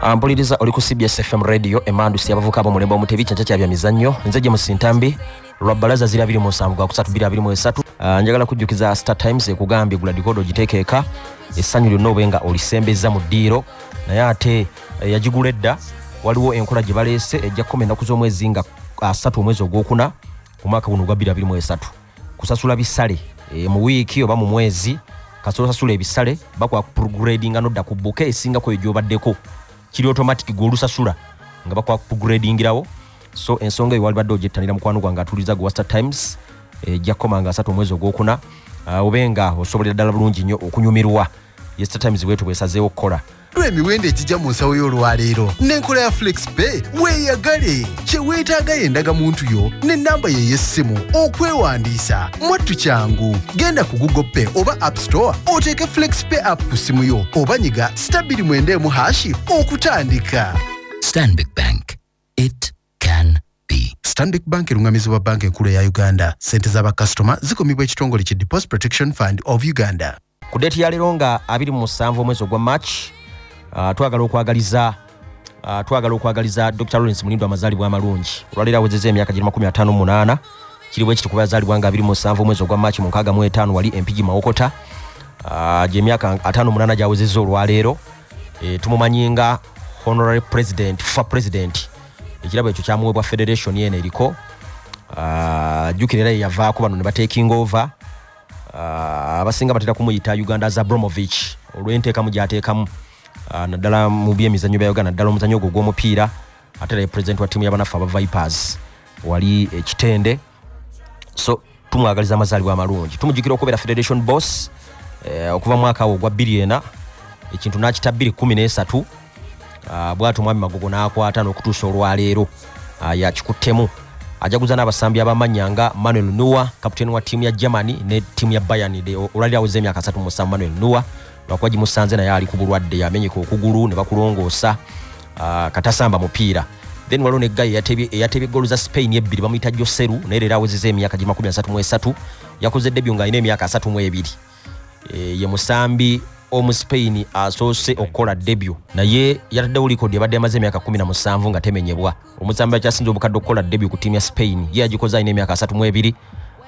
Ah, mpuliriza oli ku cbs fm radio emandusi abavuka abo mulembe omutebi kyenkya kya bya mizannyo nze gye musintambi lwa bbalaza ziri abiri mu nsanvu gwa kusatu biri abiri mu esatu Ah, njagala kujjukiza star times ekugambye gula dikodo ogiteekeeka essanyu lyonna obe nga olisembezza mu ddiiro naye ate eh, yagigula edda waliwo enkola gye baleese ejja kukoma ennaku z'omwezi nga asatu omwezi ogwokuna omwaka guno ogwa biri abiri mu esatu kusasula bisale e, mu wiiki oba mu mwezi kasolo sasula ebisale bakola progradinga nodda ku buka esingako eyo gyobaddeko kiri automatic gwolusasula nga bakola progradingirawo so ensonga eyo walibadde ogyettanira mukwano gwange atuliza gwe waster times ejja eh, kukoma nga asatu omwezi ogwokuna ah, obe nga osobolera ddala bulungi nnyo okunyumirwa yester times bwetu bwesazeewo okukola Lwa emiwendo egijja mu nsawo y'olwaleero n'enkola ya FlexPay weeyagale. Kye weetaaga ye ndagamuntu yo n'ennamba ye ey'essimu okwewandiisa. Mwattu kyangu. Genda ku Google Pay oba App Store oteeke FlexPay app ku ssimu yo oba nyiga sita bbiri mwenda emu hashi okutandika. Stanbic Bank. It can be. Stanbic Bank erung'amizibwa Banka Enkulu eya Uganda. Ssente za bakasitoma zikumibwa ekitongole ki Deposit Protection Fund of Uganda. ku date ya lero nga 27 omwezi ogwa march uh, twagala okwagaliza uh, twagala okwagaliza dr lawrence munindo amazaalibwa amalungi olwaleero awezeza emyaka giri 58 kiri bwekiti kuba yazaalibwa nga 27 omwezi ogwa march mu 65 wali empigi mawokota uh, gyemyaka 58 gyawezeza olwaleero e, tumumanyi nga honorary president fa president ekirabo ekyo kyamuwebwa federation yeno eriko uh, jukira era yeyavaako bano ne batekinga over Ah, abasinga batera kumuyita uganda za bromovich olwenteekamu gyateekamu ah, naddala mu byemizanyo bya uganda naddala omuzanyo ogwo ogw'omupiira ate era president wa tiimu yabanaffe aba vipers wali ekitende so tumwagaliza amazaalibwa amalungi tumujukira okubeera federation boss eh, okuva mwaka awo ogwa bbiri ena ekintu n'akita bbiri kumi n'esatu ah, bwati omwami magogo n'akwata n'okutuusa olwaleero ah, yakikuttemu ajaguza n'abasambi abamanya nga manuel nuwa kaputeni wa ttiimu ya germany ne ttiimu ya bayanide olwaliro aweza emyaka 3 musanvu manuel nuwa lwakuba gimusanze naye ali ku bulwadde yamenyeka okugulu ne bakulongoosa ah, katasamba mupiira then waliwo ne gayi eyatebye goolu za spain ebbiri bamuyita joseru naye leero awezeza emyaka gi 33 yakoze debyo ng'alina emyaka 32 eh, ye musambi omu spain asoose okukola debyu naye yataddewo likodi ebadde yamaze emyaka 17 nga temenyebwa omusambi akyasinza obukadde okukola debyu ku tiimu ya spain ye yagikoze alina emyaka 32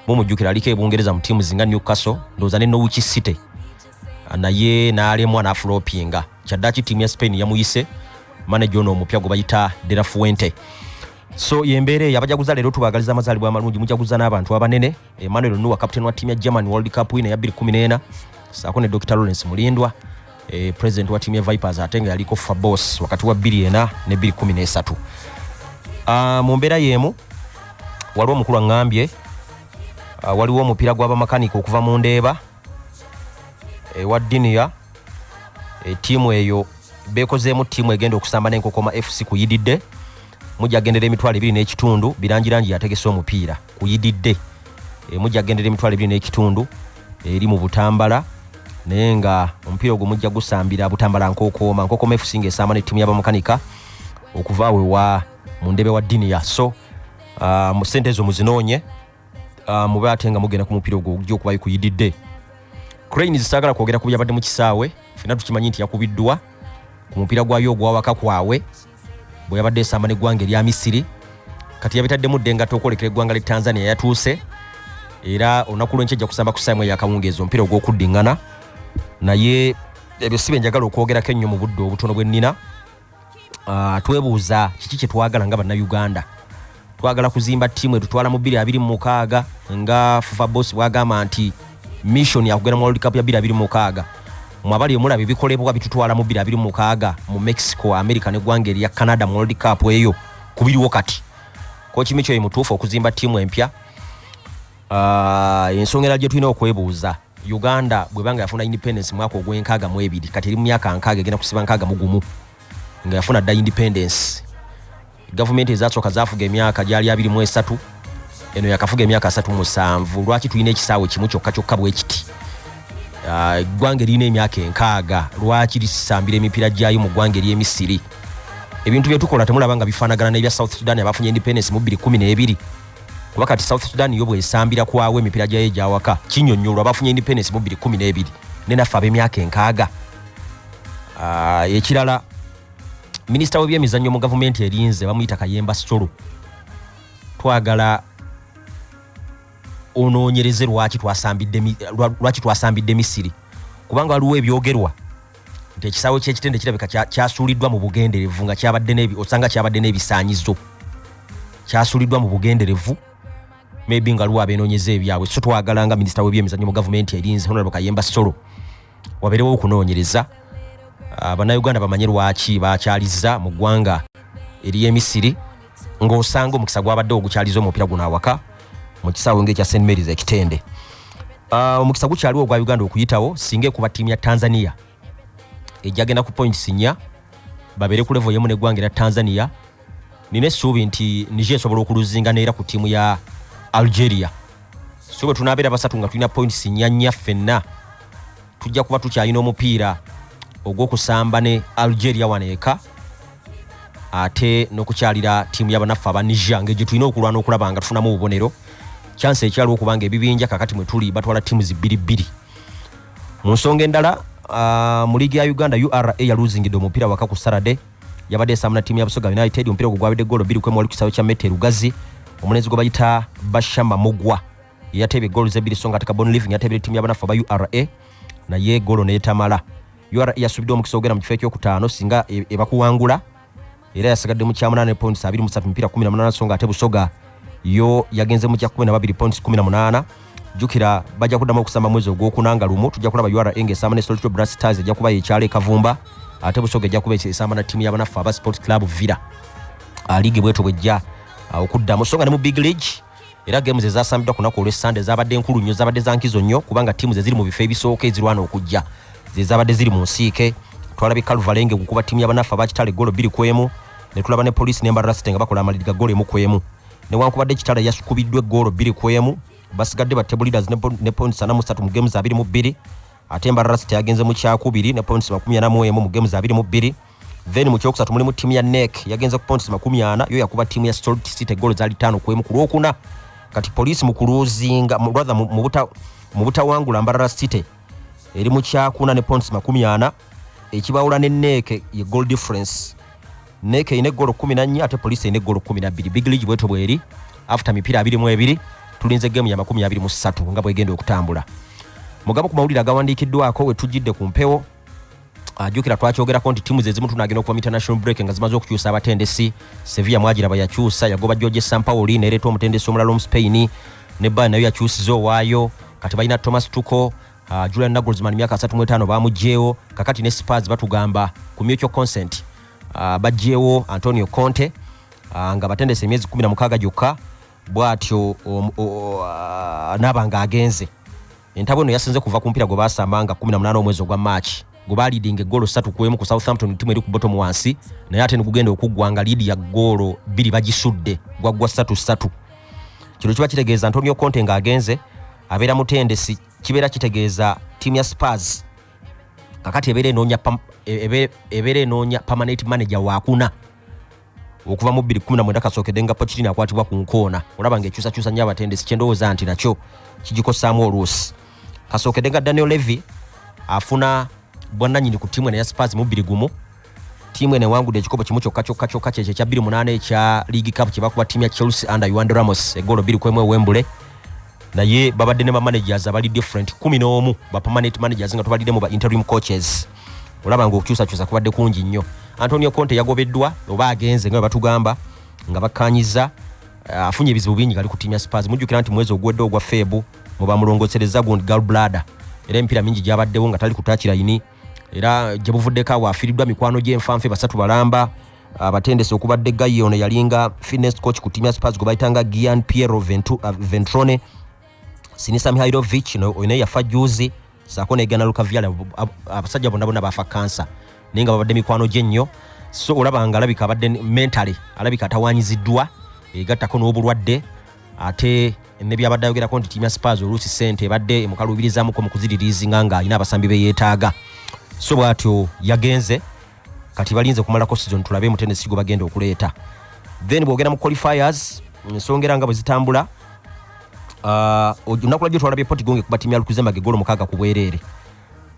mumujjukira aliko ebungereza mu tiimu zinga newcastle ndowooza ne norwich city naye n'alemwa n'afulopinga kyaddaki tiimu ya spain yamuyise maneja ono omupya gwe bayita derafuente so yembeera eyo abajaguza leero tubagaliza amazaalibwa amalungi mujaguza n'abantu abanene Emmanuel Nuwa captain wa timu ya German World Cup wina ya 2014 saako ne Dr Lawrence Mulindwa eh, president wa timu ya Vipers ate nga yaliko fa boss wakati wa 24 ne 2013 ah, mu mbeera y'emu waliwo omukulu aŋŋambye ah, waliwo omupiira gw'abamakanika okuva mu ndeeba ewa eh, diniya e, tiimu eyo bekozeemu tiimu egenda okusamba nenkokoma fc kuyididde mujja kugendera emitwalo ebiri n'ekitundu birangirangi yategese omupiira kuyididde e, mujja kugendera emitwalo ebiri n'ekitundu eri mu butambala naye nga omupiira ogwo mujja gusambira butambala nkokooma nkokooma fc nga esamba ne tiimu yabamukanika okuva awewa mu ndebe wa diniya so uh, sente ezo muzinoonye ah, mube ate nga mugenda ku mupiira ogwo ogujja okubayo kuyididde crane zisaagala kwogera ku byabadde mu kisaawe fena tukimanyi nti yakubiddwa ku mupiira gwayo ogwawaka kwawe bwe yabadde esamba neggwanga erya misiri kati yabitaddemu dde ngatta okwolekera eggwanga lya tanzania yatuuse era olunaku lwenkya ejja kusamba ku saamu eyakawungeezi omupiira ogw'okuddiŋŋana naye ebyo si byenjagala okwogerako ennyo mu budde obutono bwe nnina uh, twebuuza kiki kyetwagala nga bannayuganda twagala kuzimba tiimu etutwala mu 226 nga fufa bos bwagamba nti mission yakugenda mu world cup ya 226 mwabali omulaba ebikolebwa bitutwala mu 226 mu mexico america neggwanga erya canada mu world cup eyo kubiriwo kati kokimi kyoyo mutuufu okuzimba tiimu empya uh, ensongera gyetulina okwebuuza Uganda bweba nga yafuna independence mwaka ogwenkaaga mu ebiri kati eri mu myaka nkaaga egenda kusiba nkaaga mu gumu nga yafuna dda independence gavumenti ezasooka zafuga emyaka gyali abiri mu esatu eno yakafuga emyaka asatu musanvu lwaki tulina ekisaawe kimu kyokka kyokka bwekiti ah, eggwanga eririna emyaka enkaaga lwaki lisambira emipiira gyayo mu ggwanga eryemisiri ebintu byetukola temulaba nga bifaanagana n'ebya south sudan abafunye independence mu 212 kuba kati south sudan yo bwesambira kwawo emipiira gyayo egyawaka kinyonyolwa bafunye independence mu 212 ne naffe ab'emyaka enkaaga ah, ekirala minisita w'ebyemizannyo mu gavumenti erinze bamuyita kayemba sitolo twagala onoonyereze lwaki twasambidde misiri kubanga waliwo ebyogerwa nti ekisaawe kyekitende kirabika kyasuuliddwa mu bugenderevu nga osanga kyabadde n'ebisaanyizo kyasuuliddwa mu bugenderevu maybe nga luwa abenoonyeza ebyabwe so twagala nga minisita w'ebyemizannyo mu gavumenti erinze honorable kayemba solo wabeerewo okunoonyereza ah, bannayuganda bamanye lwaki bakyaliza mu ggwanga ery'emisiri ng'osanga omukisa gwabadde ogukyaliza omupira guno awaka mu kisaawe ng'ekya st marys ekitende ah, omukisa gukyaliwo ogwa uganda okuyitawo singa ekuba ttiimu ya tanzania ejagenda ku points nya babeere ku levo yemu neggwanga era tanzania nina essuubi nti niger esobola okuluzinga neera ku ttiimu ya algeria so bwe tunaabeera basatu nga tulina points nya nya ffenna tujja kuba tukyalina omupiira ogw'okusamba ne algeria wano eka ate n'okukyalira ttiimu yabanaffe aba niger ngaegye tulina okulwana okulaba nga tufunamu obubonero kyansi ekyaliwo okuba nga ebibinja kakati mwe tuli batwala ttiimu zibbiri bbiri mu nsonga endala ah, mu liigi ya uganda ura yaluzingidde omupiira waka ku sarade yabadde esamba na ttiimu ya busoga united omupiira ogwo gwabadde golo bbiri kwemu wali ku kisaawe kya mete lugazi omulenzi gwe bayita bashama mugwa yateebye goals ebbiri so nga ate kabon living yateebera ttiimu y'abanafu aba ura naye goolo neetamala ura yasuubidde omukisa ogenda mu kifo ekyokutaano singa e, ebakuwangula era yasigadde mu kyamunaana points 23 mipiira 18 so nga ate busoga yo yagenze mu kya 12 points 18 jukira bajja kuddamu okusamba mwezi ogwokuna nga lumu tujja kulaba ura nga esamba ne solito bra stars ejja kuba yekyalo ekavumba ate busoga ejja kuba esamba na ttiimu y'abanaffe aba sport club villa ah, liigi bweto bwejja ah, okuddamu so nga ne mu big league era geemu ze zasambiddwa ku lunaku olw'essande zaabadde nkulu nnyo zaabadde za nkizo nnyo kubanga ttiimu ze ziri mu bifo ebisooka ezirwana okujja ze zaabadde ziri mu nsiike twalabye kalvalenge gukuba ttiimu yabanaffe abakitale golo bbiri ku emu ne tulaba ne poliisi ne mbarasite nga bakola amaliri ga golo emu ku emu newankubadde kitale yasukubiddwa eggoolo bbiri ku emu basigadde ba table leaders ne points ana musatu mu games abiri mu bbiri ate mbarasite yagenze mu kyakubiri ne points makumi ana mu emu mu games abiri mu bbiri then mu kyokusatu mulimu ttiimu ya nek yagenze ku ponts makumi ana yo yakuba ttiimu ya stolt city goolo zaali taano ku emu ku lwokuna kati poliisi mu kuluzinga rather mu butawangula mbarara city eri mu kyakuna ne ponts makumi ana ekibawula ne neeke ye goal difference neeke erina eggolo kumi nannya ate poliisi erina eggolo kumi nabbiri big league bweto bweri after mipiira abiri mu ebiri tulinze geemu ya makumi abiri mu ssatu nga bwegenda okutambula mugamu ku mawulire agawandiikiddwako wetujjidde ku mpewo ajukira twakyogerako nti tiimu zezimu tunagenda okuva mu international break nga zimaze okukyusa abatendesi sevilla mwagiraba yakyusa yagoba george sampaoli nereeta omutendesi omulala omu spain ne bali nayo yakyusiza owaayo kati balina thomas tuko uh, julian nagolsman myaka 35 bamugyewo kakati ne spars batugamba ku mutual consent uh, bagyewo antonio conte uh, nga batendesa emyezi 16 gyokka bwatyo um, uh, naba nga agenze Entabwe eno yasinze kuva ku mpira gwe baasamba nga 18 omwezi ogwa March gwe baaliidinga eggoolo ssatu ku emu ku Southampton ttimu eri ku bottom wansi naye ate negugenda okuggwa nga liidi ya ggoolo bbiri bagisudde gwaggwa ssatu ssatu kino kiba kitegeeza Antonio Conte ng'agenze abeera mutendesi kibeera kitegeeza ttiimu ya Spurs kakati ebeera enoonya e, ebeera enoonya permanent manager wakuna okuva mu 2019 kasookedde nga pokitin akwatibwa ku nkoona olaba nga ekyusakyusa nnyo abatendesi kyendowooza nti nakyo kigikosaamu oluusi kasookedde nga daniel levy afuna bwannanyini ku tiimu eno ya spars mu bbiri gumu tiimu eno ewangudde ekikopo kimu kyokka kyokka kyokka kyekyo ekya 28 ekya league cup kye bakuba tiimu ya chelsea under yuande ramos egoolo bbiri kwemu ewembule naye babadde ne bamanagers abali different 11 bapermanent managers nga tubaliddemu ba interim coaches olaba nga okukyusakyusa kubadde kungi nnyo antonio conte yagobeddwa oba agenze nga webatugamba nga bakkanyiza eh, afunye ebizibu bingi gali ku tiimu ya spars mujjukira nti mwezi oguwedde ogwa feebu mubamulongosereza gundi galblada era emipiira mingi gyabaddewo nga tali kutakirayini era gyebuvuddeko awo afiiriddwa mikwano gyenfanfe basatu balamba abatendesi okubadde gayi ono yalinga fitness coach ku tiimu ya spars gwe bayitanga gian piero eh, ventrone sinisa mihailovich oyo naye yafa juzi saako negana lukavyala abasajja bonna bonna bafa kansa naye nga babadde mikwano gye nnyo so olaba nga alabika abadde mentale alabika atawanyiziddwa egattako n'obulwadde ate nebyabadde ayogerako nti tiimu ya spars oluusi sente ebadde emukaluubirizamuko mu kuziririizinga ng'alina abasambi be yeetaaga so bw'atyo yagenze kati balinze kumalako sizoni tulabe mutendesi gwe bagenda okuleeta then bwogenda mu qualifiers ensonga era nga bwe zitambula uh, olunaku lwajjo twalabye potigonge kuba timu yalukuzembaga egolo mukaaga ku bwereere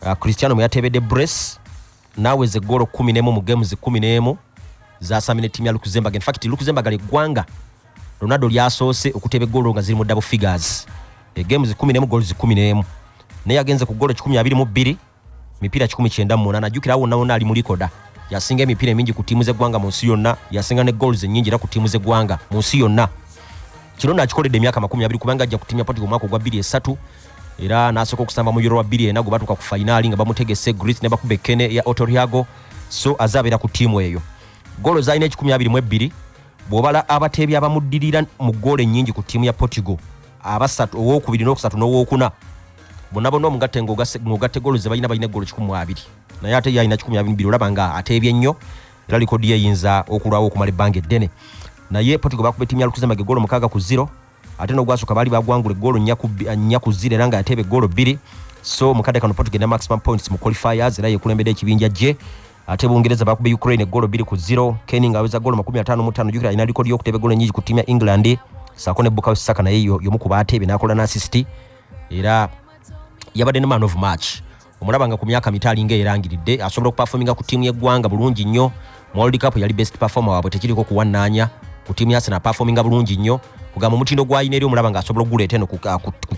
uh, cristiano mwe yatebedde brace naaweza egolo kumi nemu mu games kumi nemu zasamina ettimu ya lukuzembaga infact lukuzembaga lyeggwanga ronaldo lyasoose okuteba egolo nga ziri mu double figures egames kumi nemu golo zikumi nemu naye agenze ku golo kikumi abiri mu bbiri mipiira kikumi kyenda mu munaana jjukira wonna wonna ali mu likoda yasinga emipiira emingi ku ttiimu z'eggwanga mu nsi yonna yasinga ne goals ennyingi era ku ttiimu z'eggwanga mu nsi yonna kino nakikoledde emyaka makumi abiri kubanga ajja kutimya poti omwaka ogwa bbiri esatu era n'asooka okusamba mu yoro wa bbiri ena gwe batuuka ku fayinaali nga bamutegese grit ne bakuba ekkene ya otoriago so aze abeera ku ttiimu eyo goolo zalina ekikumi abiri mu ebbiri bw'obala abateebi abamuddirira mu goolo ennyingi ku ttiimu ya portugal abasatu owokubiri n'okusatu n'owokuna bonabona omugatte ngaogatte golo zebalina balina egolo kikumi mu abiri naye ate yalina kikumi abiri biri olaba nga ateebye nnyo era likodi ye eyinza okulwawo okumala ebbanga eddene naye potigo bakuba etimu ya lukuzemage golo mukaaga ku ziro ate nogwasooka baali bagwangula egolo nnya ku ziro era nga ateeba egolo bbiri so mukadde kano potigo ena maximum points mu qualifiers era yekulembedde ekibinja gye ate bungereza bakuba ukraine egolo bbiri ku ziro keni nga aweza golo makumi ataano mu ttaano jukira alina likodi yokuteeba egolo enyingi ku tiimu ya england saako ne bukayo saka naye yomu ku baateebe nakola n'asisiti era yabadde ne man of march omulaba nga ku myaka mito alinga erangiridde asobola okupafominga ku tiimu yeggwanga bulungi nnyo mu world cup yali best performer waabwe tekiriko kuwannaanya ku tiimu yasena apafominga bulungi nnyo kugamba omutindo gwalina eri omulaba nga asobola okuguleeta eno ku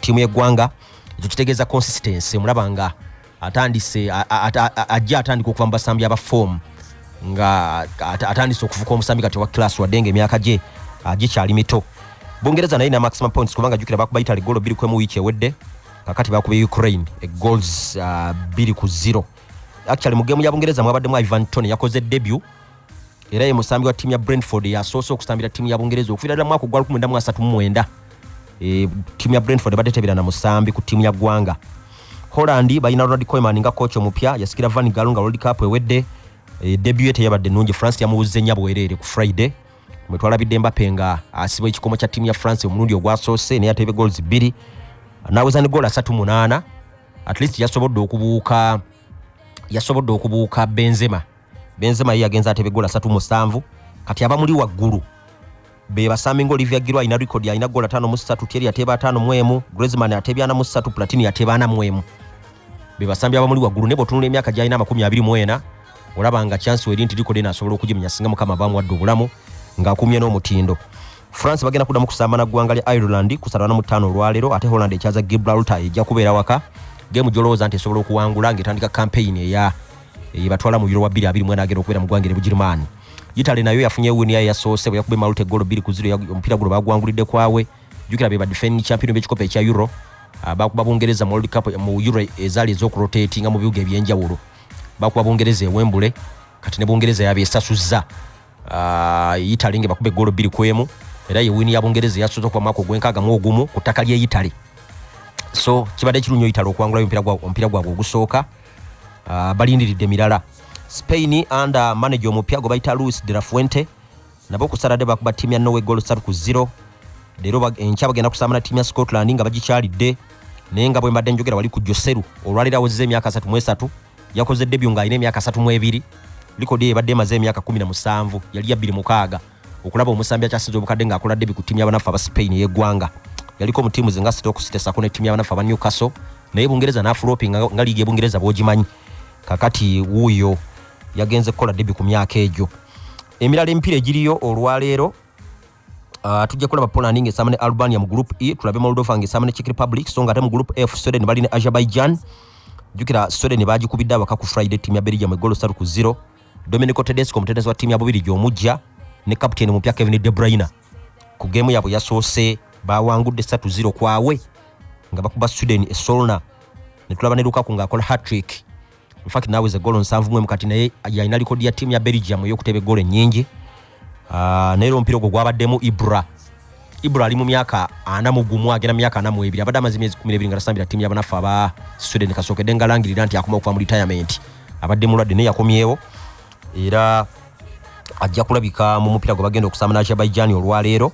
tiimu yeggwanga ekyo kitegeeza consistency omulaba nga atandise ajja atandika okuva mu basambi aba fomu nga atandise okufuka omusambi kati owa class wadde nga emyaka gye gikyali mito bungereza naye na maximum points kubanga jukira bakuba italy golo biri kwemu wiiki ewedde kakati bakuba ukraine egols biri ku zero actually mu gemu ya bungereza mwabaddemu ivan tony yakoze debut era ye musambi wa ttiimu ya brentford yasoose okusambira ttiimu ya bungereza okuviira ddala mwaka ogwa 1939 e, ttiimu ya brentford ebadde tebeera na musambi ku ttiimu ya ggwanga holland balina ronald coiman nga kooci omupya yasikira van galo nga world cup ewedde e, debu ye teyabadde nungi france yamuwuzza ennya bwereere ku friday mwetwalabidde mbape nga asibwa ekikomo kya ttiimu ya france omulundi ogwasoose naye atebe gols bbiri naweza ne gool asatu munaana at least yasobodde okubuuka yasobodde okubuuka benzema Benzema ye yagenze atebe gola satu musanvu kati abamuli waggulu be basambi nga Olivia Giroud alina record alina gola tano mu satu Thierry ateba tano mu emu Griezmann atebya na mu satu Platini ateba na mu emu be basambi abamuli waggulu ne botunula emyaka gyalina amakumi abiri mu ena olaba nga chance weri nti record eno asobola okugimenya singa mukama bamuwadde obulamu ng'akumye n'omutindo france bagenda kuddamu kusamba na ggwanga lya ireland ku satana mutaano olwaleero ate holland ekyaza gibraltar ejja kubeera waka gemu gyolowooza nti esobola okuwangula ng'etandika kampeyini eya eyebatwala mu biro wa 2 mwena agenda okubeera mu ggwanga ne bugirimaani yitale nayo yafunye wini yayo yasoose bwe yakuba emaluta eggolo bbiri ku ziro omupiira guno bagwangulidde kwawe jukira be badefending champion b'ekikopo ekya euro ah, bakuba bungereza mu world cup mu euro ezaali ez'okurotatinga mu bibuga eby'enjawulo bakuba bungereza ewembule kati ne bungereza yabyesasuzza Ah, Italy nga bakuba eggolo bbiri ku emu era ye wiini ya Bungereza eyasoose okuva mwaka ogw'enkaaga mu ogumu ku ttaka ly'e Italy. So kibadde kirunyo Italy okuwangulayo omupiira gwa- omupiira gwabwe ogusooka Ah, balindiridde mirala. Spain under manager omupya gwe bayita Luis de la Fuente nabo ku Saturday bakuba ttiimu ya Norway goolo ssatu ku zero leero bag- enkya bagenda kusamba na ttiimu ya Scotland nga bagikyalidde naye nga bwe mbadde njogera wali ku Joseru olwaleero awezezza emyaka asatu mu esatu yakoze debyu ng'alina emyaka asatu mu ebiri likodi eyo ebadde emaze emyaka kumi na musanvu yali ya bbiri mukaaga okulaba omusambi akyasinza obukadde ng'akola debyu ku ttiimu y'abanaffe aba spain ey'eggwanga yaliko mu ttiimu zinga sitokusitesako ne ttiimu y'abanaffe aba newcastle naye bungereza n'afuloopi nga liigi ebungereza bwogimanyi kakati wuuyo yagenze kukola debyu ku myaka egyo emirala emipiira egiriyo olwaleero Uh, tujja kulaba Poland nga esaama ne Albania mu group E, tulabe Moldova nga esaama ne Czech Republic, so nga ate mu group F Sweden bali ne Azerbaijan. Jukira Sweden bagikubidde abaka ku Friday timu ya Belgium egolo satu ku zero. Domenico Tedesco omutendesi wa timu ya Bubirigi omujja ne captain omupya Kevin De Bruyne ku game yabwe yasoose bawangudde satu zero kwawe nga bakuba Sweden e Solna ne tulaba ne Lukaku ng'akola hat-trick. in fact now is a goal nsanvu mwe mukati naye yalina likodi ya tiimu ya belgium eyokuteba egoolo ennyingi ah, naye era omupiira ogwo gwabaddemu ibra ibra ali mu myaka ana mu gumu agenda myaka ana mu ebiri abadde amaze emyezi kumi n'ebiri nga tasambira tiimu yabanaffe aba sweden kasookedde nga langirira nti akoma okuva mu retirement abadde mulwadde naye yakomyewo era ajja kulabika mu mupiira gwe bagenda okusamba nazerbaijan olwaleero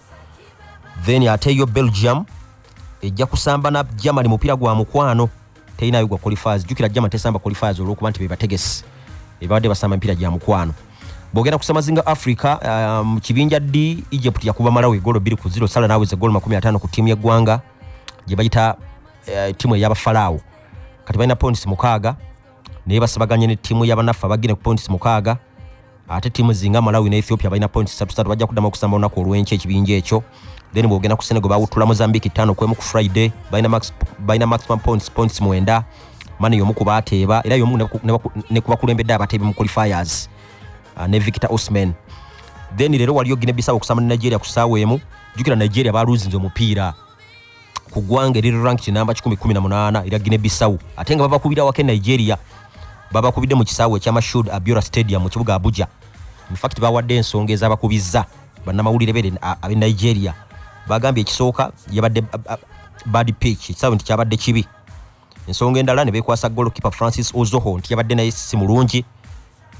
then ate yo belgium ejja kusamba na germany mupiira gwa mukwano teyina yugwa qualifiers jukira jama tesamba qualifiers olwokuba nti bebategesi ebabadde basamba emipiira gya mukwano bwogenda kusama zinga africa uh, mu um, kibinja d egypt yakuba malawi egolo biri ku ziro sala naweza egolo makumi atano ku tiimu yeggwanga gyebayita uh, tiimu eyabafalaawo kati balina points mukaaga naye basabaganye ne tiimu yabanaffe abagine ku points mukaaga ate tiimu zinga malawi ne ethiopia balina points satu satu bajja kuddamu okusamba olunaku olw'enkya ekibinja ekyo then bwogenda ku senegal bawuttula mozambique ttaano kwemu ku friday balina maximum points points mwenda mani yomu ku baateeba era yomu ne ku bakulembedde abateebi mu qualifiers ah, ne victor osman then leero waliyo gine bisawo okusamba ne nigeria ku ssaawa emu jukira nigeria baluzinze omupiira ku ggwanga eriri rank kinamba 118 era gine bisawu ate nga babakubira wake nigeria babakubidde mu kisaawe ekya mashud abiora stadium mu kibuga abuja infact bawadde ensonga ezabakubizza bannamawulire bere abe nigeria bagambye ekisooka yabadde bad pitch ekisaawe nti kyabadde kibi ensonga endala ne bekwasa golkipe francis ozoho nti yabadde naye si mulungi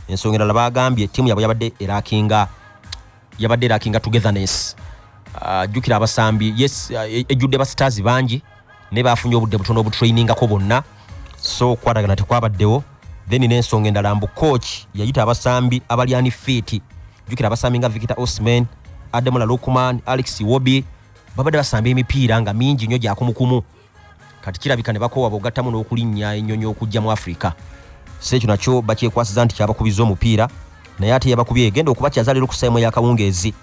ensonga endala bagambye ttiimu yabwe yabadde erakinga yabadde erakinga togetherness ah, jjukira uh, abasambi yes ah, e, ejjudde ba stars bangi naye bafunye obudde butono obutrainingako bonna so okwatagana tekwabaddewo then n'ensonga endala mbu coach yayita abasambi abalyani fiiti jjukira abasambi nga victor osman ademola lukman alex wobi babadde basamba emipiira nga mingi nnyo gyakumukumu kati kirabika ne bakoowa bogattamu n'okulinnya ennyonyi okujja mu afirika si ekyo nakyo bakyekwasiza nti kyabakubiza omupiira naye ate yabakubye egenda okuba kyazaliro kusayimo yakawungeezi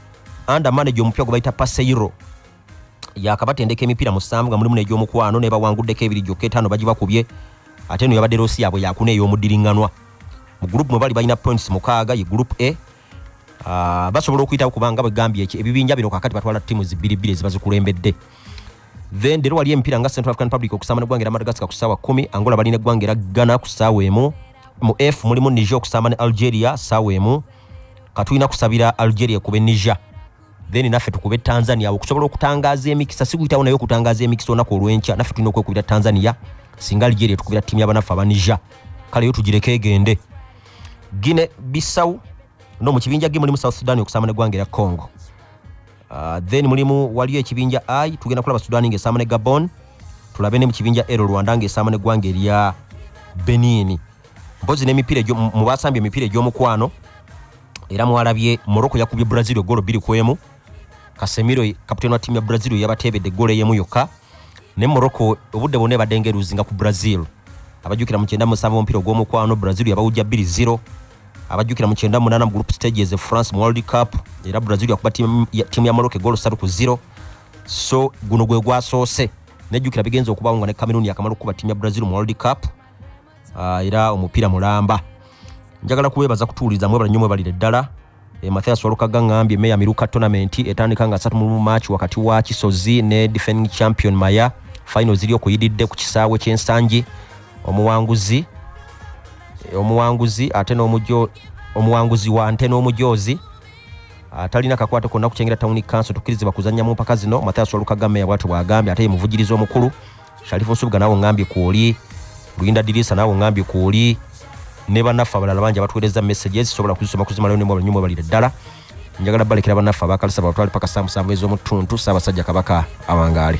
anda manaje omupya gwe bayita paseyiro yakabatendeka emipiira musanvu nga mulimu negyomukwano nebawanguddeko ebiri gyokka etaano bagibakubye ate no yabadde rosi yaabwe yakuna ey'omuddiringanwa mu gurupu mwe bali balina points mukaaga ye gurupu a ah, basobola okuyitawo kubanga bwegambye ebibinja bino kakati batwala ttiimu zibbiribbiri ezibazikulembedde then leero wali emipiira nga central african republic okusamba ne gwangera madagascar ku ssaawa kumi angola bali ne gwangera ghana ku ssaawa emu mu f mulimu niger okusamba ne algeria ssaawa emu katulina kusabira algeria kube niger then naffe tukube tanzania awo okusobola okutangaza emikisa sikuyitawo naye okutangaza emikisa olunaku olwenkya naffe tulina okwekubira tanzania singa algeria tukubira ttiimu yabanaffe aba niger kale yo tugireko egende gine bisawu no mu kibinja ge mulimu south sudan okusamba ne gwangera congo Uh, then mulimu waliyo ekibinja i tugenda kulaba sudani ngaesaama ne gabon tulabe ne mu kibinja ero rwanda ngaesaama neggwanga erya benini mpozi nemipiira mu basambye emipiira egy'omukwano era mwalabye morocco yakubye brazil egolo biri ku emu kasemiro kaputeni wa tiimu ya brazil yabateebedde egolo eyemu yokka ne morocco obudde bwonna ebadde nga eruzinga ku brazil abajjukira mu kyenda musanvu omupiira ogw'omukwano brazil yabawujja 2 0 abajjukira mu kyenda munaana mu group stages e france mu world cup era brazil yakuba tiimu ya morocco egolo satu ku 0 so guno gwe gwasoose nejjukira bigenza okubawo nga ne cameroon yakamala okukuba tiimu ya brazil mu world cup ah, era omupiira mulamba njagala kubeebaza kutuuliza mwebala nnyo mwebalire ddala Eh, Mathias Walukaga ngambye Meya Miruka tournament etandika nga 3 mu March wakati wa Kisozi ne defending champion Maya final ziri okuyididde ku kisaawe ky'ensangi omuwanguzi eh, omuwanguzi ate n'omujyo omuwanguzi wa nte n'omujoozi atalina kakwate konna kukyengera tawuni kanso tukirizibwa kuzannya mu mpaka zino mathias olukagame yabwatyo bwagambye ate ye muvugiriza omukulu sharifu osubuga nawe ngambye kwoli luyinda dirisa nawe ngambye kwoli ne banaffe abalala bangi abatuweereza messages sobola kuzisoma kuzimalayo nemu abanyumu balire ddala njagala balekera banaffe abakalisa batwale paka samusanvu ez'omutuntu ssaabasajja kabaka awangaale